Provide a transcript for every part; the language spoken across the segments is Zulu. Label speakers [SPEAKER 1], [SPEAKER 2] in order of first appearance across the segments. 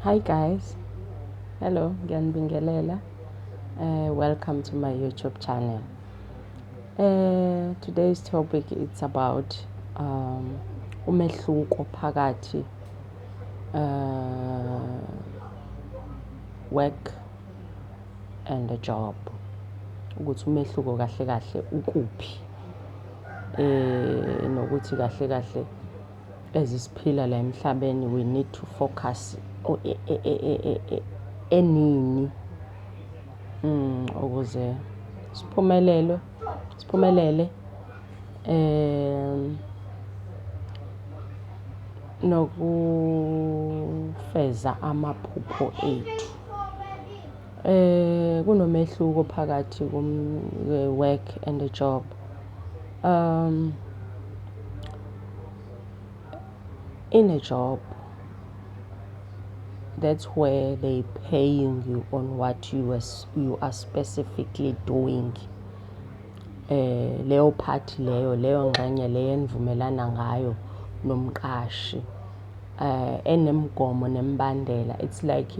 [SPEAKER 1] Hi guys. Hello, ngiyanibingelela. Uh, welcome to my YouTube channel. Uh, today's topic it's about um, umehluko phakathi uh, work and a job. Ukuthi umehluko kahle kahle ukuphi. Eh nokuthi kahle kahle ezisiphila la emhlabeni we need to focus enini ukuze siphumelelwe siphumelele nokufeza amaphupho ethu. Kunomehluko phakathi kwe-work and a job . in a job that's where they paying you on what you are, you are specifically doing eh leyo part leyo leyo ngxenye leyo enivumelana ngayo nomqashi eh enemigomo nemibandela it's like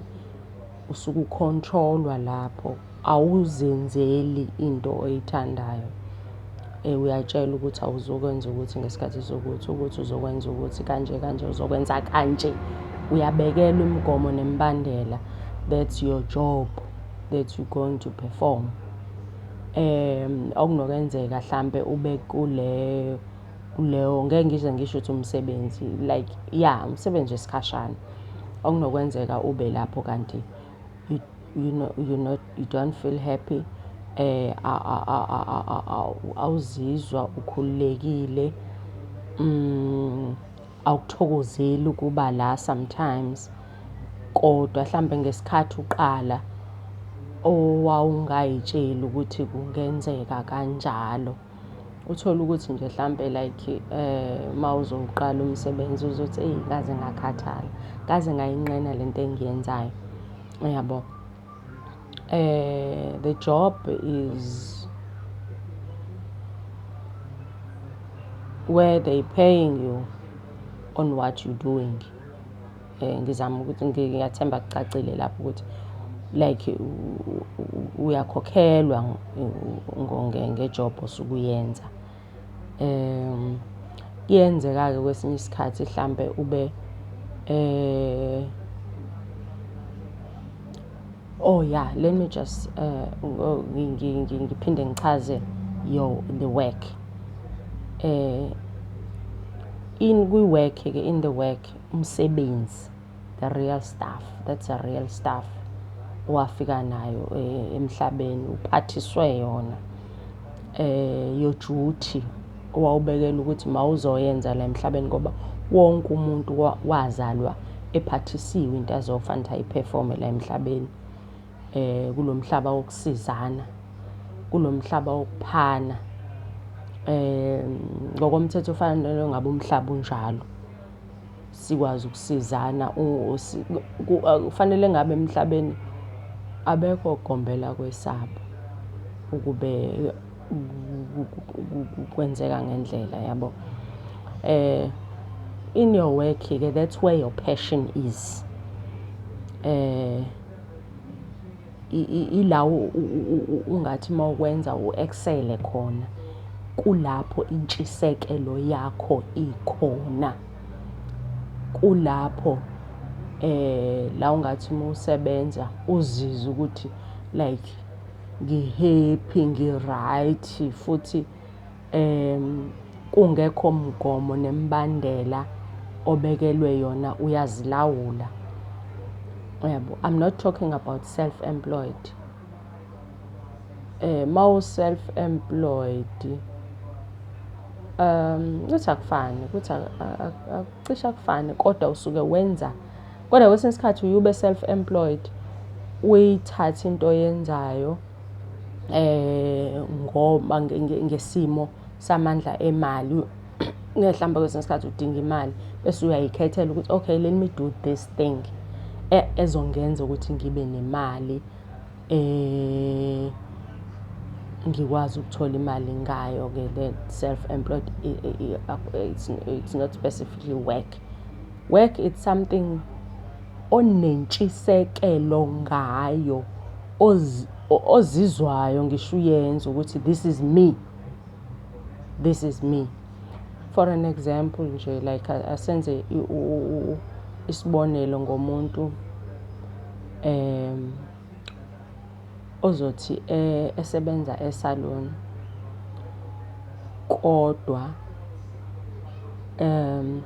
[SPEAKER 1] Usuke ukhontrolwa lapho, awuzenzeli into oyithandayo. Eh, uyatshelwa ukuthi awuzokwenza ukuthi ngesikhathi sokuthi, ukuthi uzokwenza ukuthi kanje kanje, uzokwenza kanje. Uyabekelwa imigomo nemibandela. That's your job that you going to perform. Um, okunokwenzeka hlampe ube kule kuleyo ngeke ngize ngisho ukuthi umsebenzi like ya umsebenzi wesikhashana okunokwenzeka ube lapho kanti you, you, know, you, not, you don't feel happy eh awuzizwa ukhululekile mm awukuthokozeli ukuba la sometimes kodwa mhlambe ngesikhathi uqala owawungayitsheli ukuthi kungenzeka kanjalo Uthole ukuthi nje hlampe like um mawuzowuqala umsebenzi uzothi eyi ngaze ngakhathala, ngaze ngayinqena le nto engiyenzayo, uyabo. Um the job is where they paying you on what you doing. Eh, ngizama ukuthi ngiyathemba kucacile lapho ukuthi like uyakhokhelwa ngejob osuke uyenza um kuyenzeka-ke kwesinye isikhathi hlampe ube eh oh yeah let me just uh ngiphinde ngichaze yo the work eh in kwi-work ke in the work umsebenzi the real stuff that's a real stuff owafika nayo eh, emhlabeni uphathiswe yona eh yojuthi owawubekela ukuthi mawuzoyenza la emhlabeni ngoba wonke umuntu wazalwa ephathisiwe into azofanele ayiperforme la emhlabeni eh kulomhlaba wokusizana kulomhlaba wokuphana eh ngokomthetho ufanele ngabe umhlaba unjalo sikwazi ukusizana kufanele ngabe emhlabeni abekho ogombela kwesabo ukube kwenzeka ngendlela yabo eh in your work ke that's where your passion is eh Ilawo ungathi uma ukwenza u-eksele khona, kulapho intshisekelo yakho ikhona. Kulapho la ungathi uma usebenza uzizwe ukuthi like ngi-happy, ngi-right futhi. um kungekho mgomo nemibandela obekelwe yona uyazilawula uyabo i'm not talking about self employed eh mawu self employed um ukuthi akufani ukuthi akucisha kufani kodwa usuke wenza kodwa kwesinye isikhathi uyube self employed uyithathe into oyenzayo ngoba ngesimo samandla emali mhlawumbe kwesinye isikhathi udinga imali bese uyayikhethela ukuthi okay let me do this thing ezongenza ukuthi ngibe nemali ngikwazi ukuthola imali ngayo-ke le self employed it's not specifically work. Work it's something onentshisekelo ngayo. ozizwayo ngisho uyenza ukuthi this is me this is me for an example nje like asenze isibonelo ngomuntu um ozothi eh, esebenza esalon kodwa um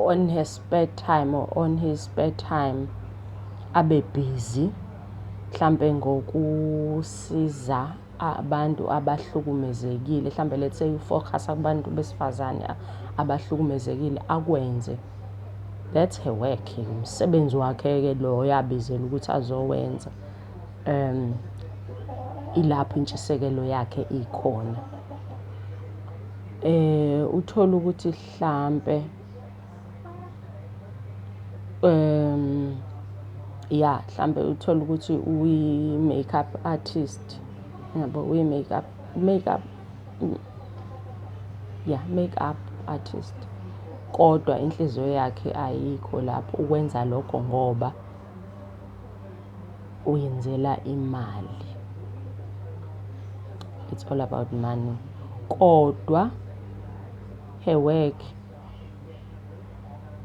[SPEAKER 1] on her spare time or on his spare time abe busy mhlampe ngokusiza abantu abahlukumezekile mhlampe let's say ufocusa kubantu besifazane abahlukumezekile akwenze that's her work umsebenzi wakhe-ke loyo abizela ukuthi azowenza um ilapho intshisekelo yakhe ikhona eh uthola ukuthi hlampe um ya hlampe uthola ukuthi uyi makeup artist yabo uyi makeup makeup ya makeup artist kodwa inhliziyo yakhe ayikho lapho ukwenza lokho ngoba uyenzela imali. It's all about money. Kodwa her work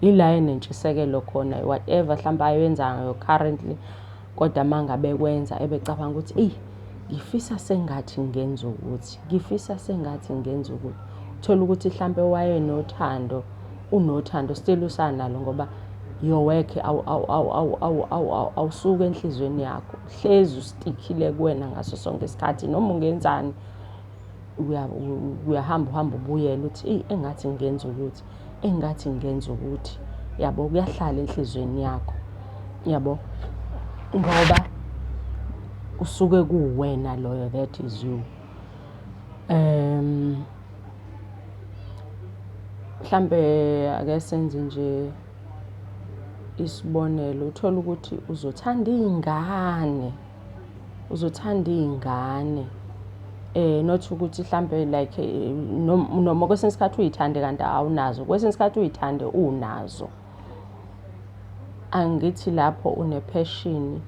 [SPEAKER 1] ila enentshisekelo khona whatever mhlawumbe ayenzayo currently kodwa mangabe kwenza ebecabanga ukuthi eyi ngifisa sengathi ngenza ukuthi ngifisa sengathi ngenza ukuthi thola ukuthi mhlawumbe wayenothando unothando still usanalo ngoba your work awusuke enhliziyweni yakho hlezi ustikhile kuwena ngaso sonke isikhathi noma ungenzani uyahamba uhamba ubuyela uthi eyi engathi ngenza ukuthi engathi ngenza ukuthi yabo kuyahlala enhliziyweni yakho yabo ngoba usuke kuwena loyo that is you Um mhlampe ake senze nje isibonelo, uthole ukuthi uzothanda iy'ngane, uzothanda iy'ngane not ukuthi hlampe like noma kwesinye isikhathi uy'thande kanti awunazo, kwesinye isikhathi uy'thande unazo. Angithi lapho unepheshini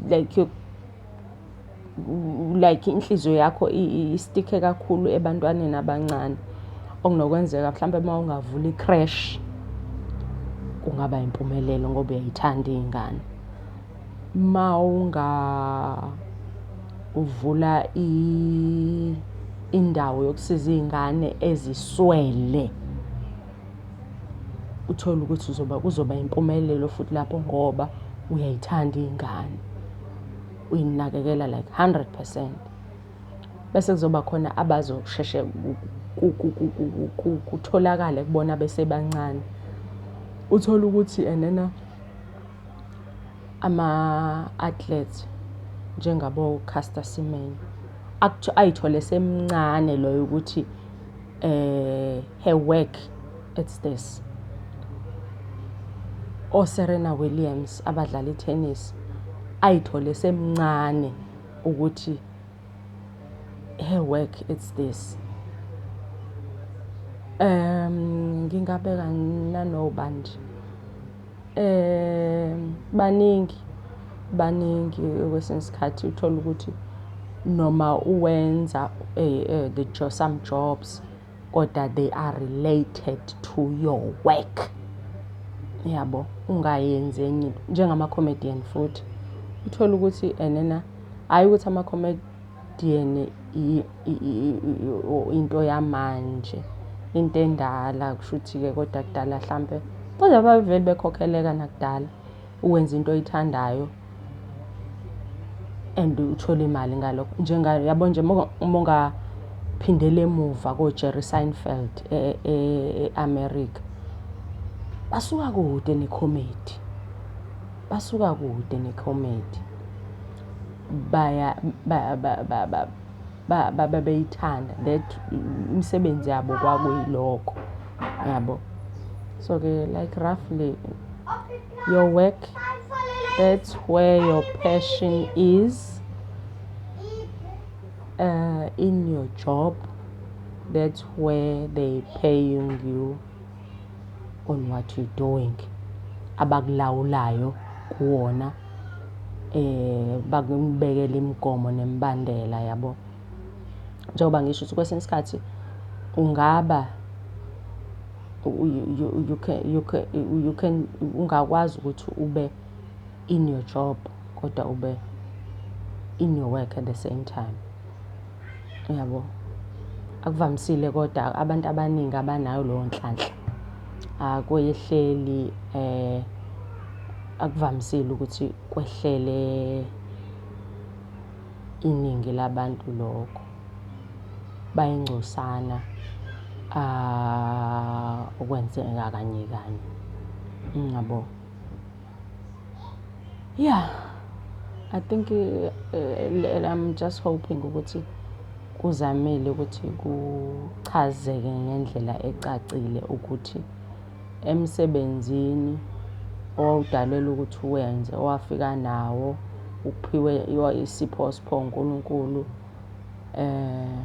[SPEAKER 1] like like inhliziyo yakho istikhe kakhulu ebantwaneni abancane. Okunokwenzeka mhlawumbe uma ungavula i-creche kungaba yimpumelelo ngoba uyay'thanda iy'ngane. Mawungavula indawo yokusiza iy'ngane eziswele, uthole ukuthi uzoba kuzoba impumelelo futhi lapho ngoba uyay'thanda iy'ngane. Uy'nakekela like hundred percent. Bese kuzoba khona abazosheshe kutholakale kubona besebancane. Uthole ukuthi enena. ama-athletes njengabo-Caster Semenya ayithole esemncane loyo ukuthi her work it's this. O-Serena Williams abadlala i-tennis ayithole esemncane ukuthi her work it's this. Ngingabeka nanobani nje. Baningi, baningi kwesinye isikhathi uthole ukuthi noma uwenza some jobs kodwa they are related to your work. Uyabo? Ungayenzi enye into, njengama-comedian futhi. Uthole ukuthi enena, hhayi ukuthi . into yamanje into endala kushuthi-ke kodwa kudala hlampe kodwa babevele bekhokheleka nakudala uwenza into oyithandayo and uthole imali ngalokho njenga yabo nje uma ungaphindela emuva koJerry Seinfeld e-America basuka kude nekhomedi basuka kude nekhomedi. babeyithanda that imisebenzi yabo kwakuyilokho yabo. So ke like roughly your work that's where your passion is uh, in your job that's where they paying you on what you're doing abakulawulayo kuwona eh bakubekele imigomo nemibandela yabo njengoba ngisho ukuthi kwesinye isikhathi ungaba you can you can ungakwazi ukuthi ube in your job kodwa ube in your work at the same time uyabo akuvamisile kodwa abantu abaningi abanayo leyo nhlanhla akwehleli eh akuvamisile ukuthi kwehlele iningi labantu lokho bayingcosana ah okwenzeka kanye kanye ngiyabo Yeah, I think eh, eh, I'm just hoping ukuthi kuzamile ukuthi kuchazeke ngendlela ecacile ukuthi emsebenzini owawudalelwe ukuthi uwenze owafika nawo uphiwe isipho sipho uNkulunkulu eh